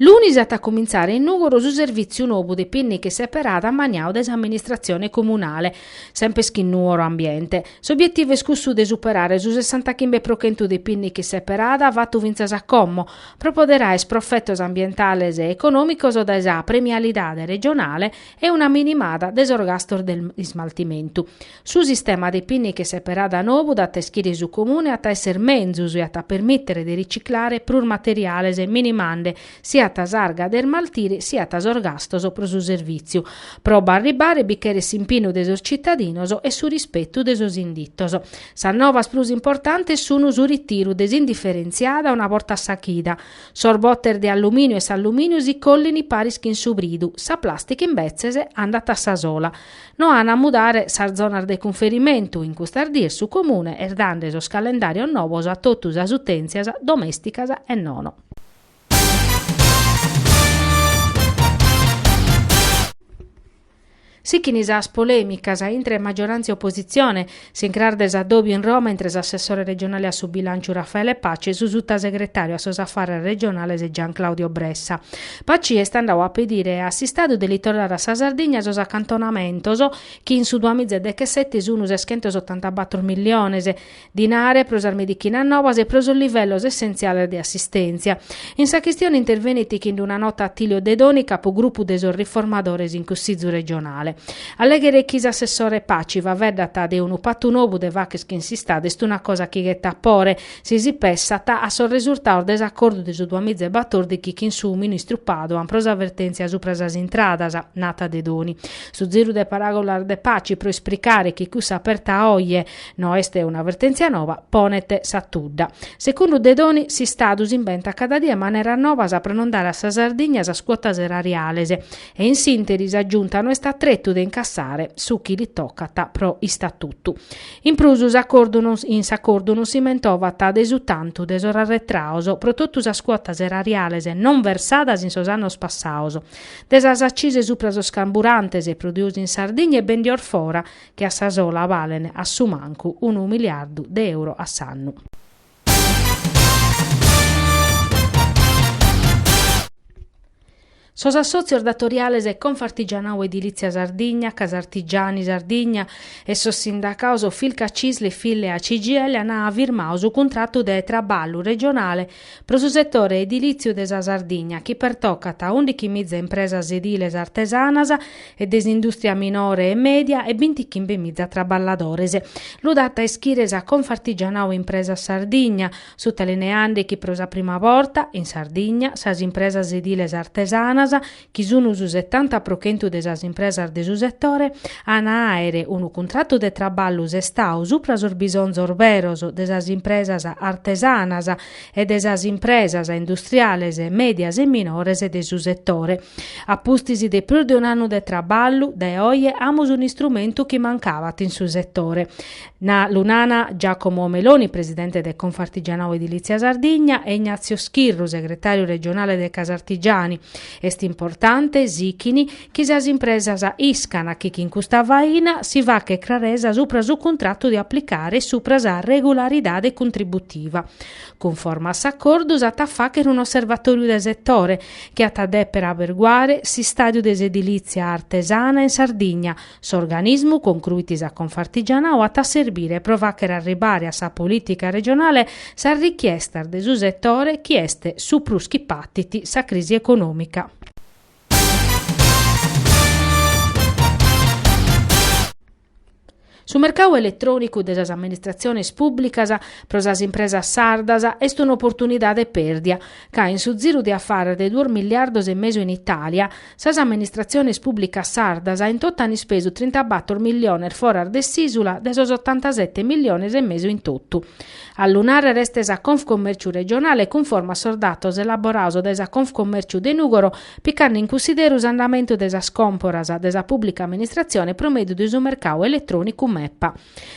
Lunis at a cumintzare in Nùgoro su servìtziu nobu de pìnniche seperada ammaniadu dae s'amministratzione comunale, sempes chin Nuoro Ambiente. S'obietivu est cussu de superare su sessantachimbe pro chentu de pìnniche seperada fatu fintzas a como, pro poder àer profetos ambientales e econòmicos dae sa premialidade regionale e una minimada de sos gastos de ismaltimentu. Su sistema de pìnniche seperada nou dat a ischire su Comune at a esser menzus e at a permìtere de riciclare prus materiales minimande siat s'arga de ismaltire siat sos gastos pro su servìtziu. Pro b'arribbare bi cheret s'impinnu de sos citadinos e su rispetu de sos inditos. Sas novas prus importantes sun su ritiru de s'indiferentziada una borta a sa chida. Sos botes de allumìniu e s'allumìniu si collin paris chin su bridu, sa plàstica imbetzes andat a sa sola. No an a mudare sas zonas de cunferimentu in custas dies su Comune est dande sos calendàrios nobos a totu sas utèntzias domèsticas e nono. Sighint sas polèmicas intre magioràntzia e opositzione S'incras de s'addòbiu in Roma intre s'assessore regionale a su bilànciu Raffaele Paci e su sutasegretàriu a sos afarres regionales Gianclaudio Bressa. Paci est andadu a pedire a s'Istadu de li torrare a sa Sardigna sos acantonamentos chi in su duamiza e dechesete sun seschentos otantabator milliones dinare pro sas medichinas nobas e pro sos livellos essentziales de assistèntzia. In sa chistione intervenit chin-d una nota Attilio Dedoni, capu grupu de sos riformadores in Cussizu regionale. A lèghere chi s'assessore Paci faveddat de unu patu nobu de fàcher chin s'Istadu est una cosa chi ghetat pore, si si pessat a sos resurtados de s'acordu de su duas miza e batòrdighi chin su ministru Padoan pro sa vertèntzia supra sas intradas, nat Dedoni. Su ziru de paràgulas de Paci pro ispricare chi cussa aperta a oje no est una vertèntzia noba ponet sa tudda. Segundu Dedoni s'Istadu s'imbentat cada die maneras nobas pro non dare a sa Sardigna sas cuotas erariales e in s'interi sa Giunta no est a tretu de incassare su chi li tocat pro istatutu. In prus in s'acordu non si mentovat de su tantu de sos arretraos pro totu sas cuotas erariales non versadas in sos annos passaos, de sas accise supra sos carburantes produidos in Sardigna e bendidos fora, chi a sa sola balen a su mancu unu miliardu de euro a s'annu. Sos assòtzios datoriales Confartigianau Edilìtzia Sardigna, Casartigiani Sardigna e sos sindacados Filca Cisl e Fillea CGIL ant firmadu su cuntratu de traballu regionale pro su setore edilìtziu de sa Sardigna chi pertocat ùndighi mìza impresas ediles artesanas e de s'indùstria minore e mèdia e bintichimbe miza traballadores. Lu dat a ischire sa Confartigianau Impresas Sardigna, sutalineande chi pro sa prima borta, in Sardigna, sas impresas ediles artesanas, chi sun su setanta pro chentu de sas impresas de su setore, ant a àere unu cuntratu de traballu sestau subra sos bisonzos beros de sas impresas artesanas e de sas impresas industriales, mèdias e minores de su setore. A pustis de prus de un'annu de traballu, dae oje amus un'istrumentu chi mancabat in su setore. Lu nana Giacomo Meloni, presidente de Confartigianau Edilizia Sardigna, e Ignazio Schirru, segretàriu regionale de Casartigiani, est importante sichini Chi sas impresas iscana chi chin custa faina si faghet craresa supra su cuntratu de aplicare e supra sa regularidade contributiva. Cunforma a s'acordu s'at a faghere un'osservatòriu de setore chi at a dèpere aberguare s'istadiu de s'edilizia artesana in Sardigna, s'organismu concruit sa Confartigianao at a serbire pro faghere arribare a sa politica regionale sas richiestas de su setore chi est su prus chi patit sa crisi econòmica. Su mercadu eletrònicu de sas amministratziones pùblicas pro sas impresas sardas est un'oportunidade pèrdia, ca in su ziru de afares de duos miliardos e mesu in Itàlia, sas amministratziones pùblicas sardas in totu an ispesu trintabator miliones foras de s'ìsula de sos otantasete miliones e mesu in totu. A lu nàrrere est sa Confcommerciu regionale cunforma a sos datos elaborados dae sa Confcommerciu de Nùgoro picande in cunsideru s'andamentu de sas còmporas de sa pùblica amministratzione pro mèdiu de su mercadu eletrònicu MEPA.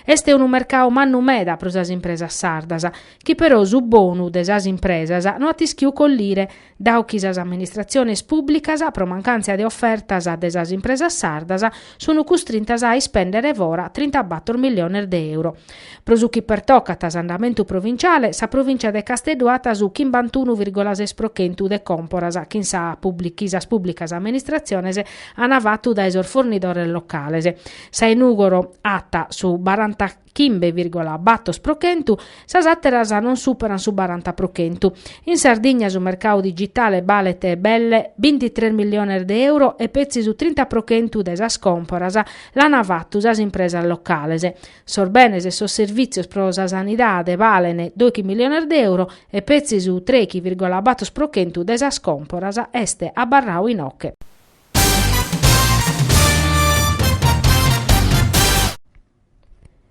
Est unu mercadu mannu meda pro sas impresas sardas, chi però su bonu de sas impresas no at ischiu collire, Dau chi sas amministratziones pùblicas, pro mancàntzia de ofertas de sas impresas sardas, sunt custrintas a ispèndere fora trintabator miliones de euro. Pro su chi pertocat s'andamentu provinciale, sa provìncia de Casteddu at su chimbantunu virgola ses pro chentu de còmporas chi sa chi sas pùblicas amministratziones an fatu dae sos fornidores locales. Sa 'e Nùgoro at su baranta chimbe virgola bator pro chentu, sas àteras non superan su baranta pro chentu. In Sardigna su mercadu digitale balet belle bintitres miliones de euro e petzi su trinta pro chentu de sas còmporas l'an fatu sas impresas locales. Sos benes e sos servìtzios pro sa sanidade balen doighi miliones de euro e petzi su treghi virgola bator pro chentu de sas còmporas est abarrau inoche.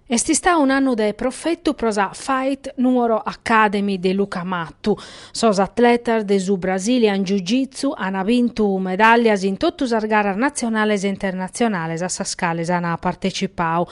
Est istau un'annu de profetu pro sa Fight Nuoro Academy de Luca Mattu. Sos atletas de su Brazilian Jiu Jitsu an bintu medàllias in totu sas garas natzionales e internatzionales a sas cales an partecipau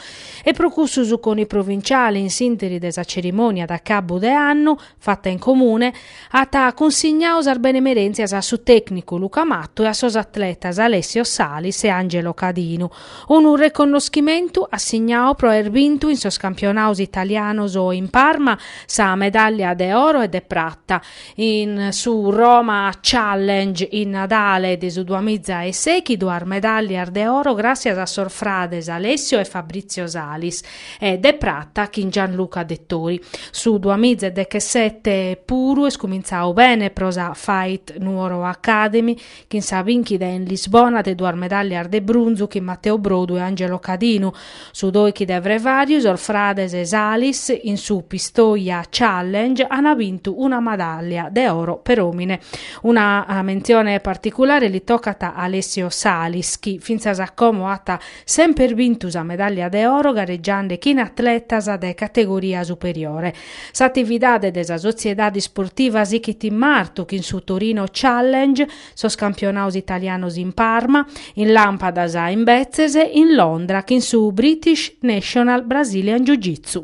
e pro cussu su CONI provinciale in s'interi de sa cerimònia de acabu de annu fata in comune, at cunsignau sas benemerèntzias a su tècnicu Luca Mattu e a sos atletas Alessio Salis e Angelo Cadinu. Unu reconnoschimentu assignau pro aer bintu in sos campionaos italianos in Parma sa medàllia de oro e de prata in su Roma Challenge in Nadale de su duamiza e seghi, duas medàllias de oro gràssias a sos frades Alessio e Fabrizio Salis, e de prata chin Gianluca Dettori. Su duamiza e dechesete puru est cumintzau bene pro sa Fight Nuoro Academy chin sa binchida in Lisbona de duas medallias de brunzu chin Matteo Brodu e Angelo Cadinu, su doichi de Frevariu sos frades Salis in su Pistoia Challenge ana bintu una medallia de oro per omine. Una mentzione particulare li tocat a Alessio Salis chi fintzas a como at semper bintu sa medàllia de oro garegiande chin atletas de categoria superiore. S'atividade de sa sotziedade isportiva sighit in martu chin su Torino Challenge, sos campionados italianos in Parma, in làmpadas imbetzes in Londra chin su British National Brazilian Jiu-Jitsu.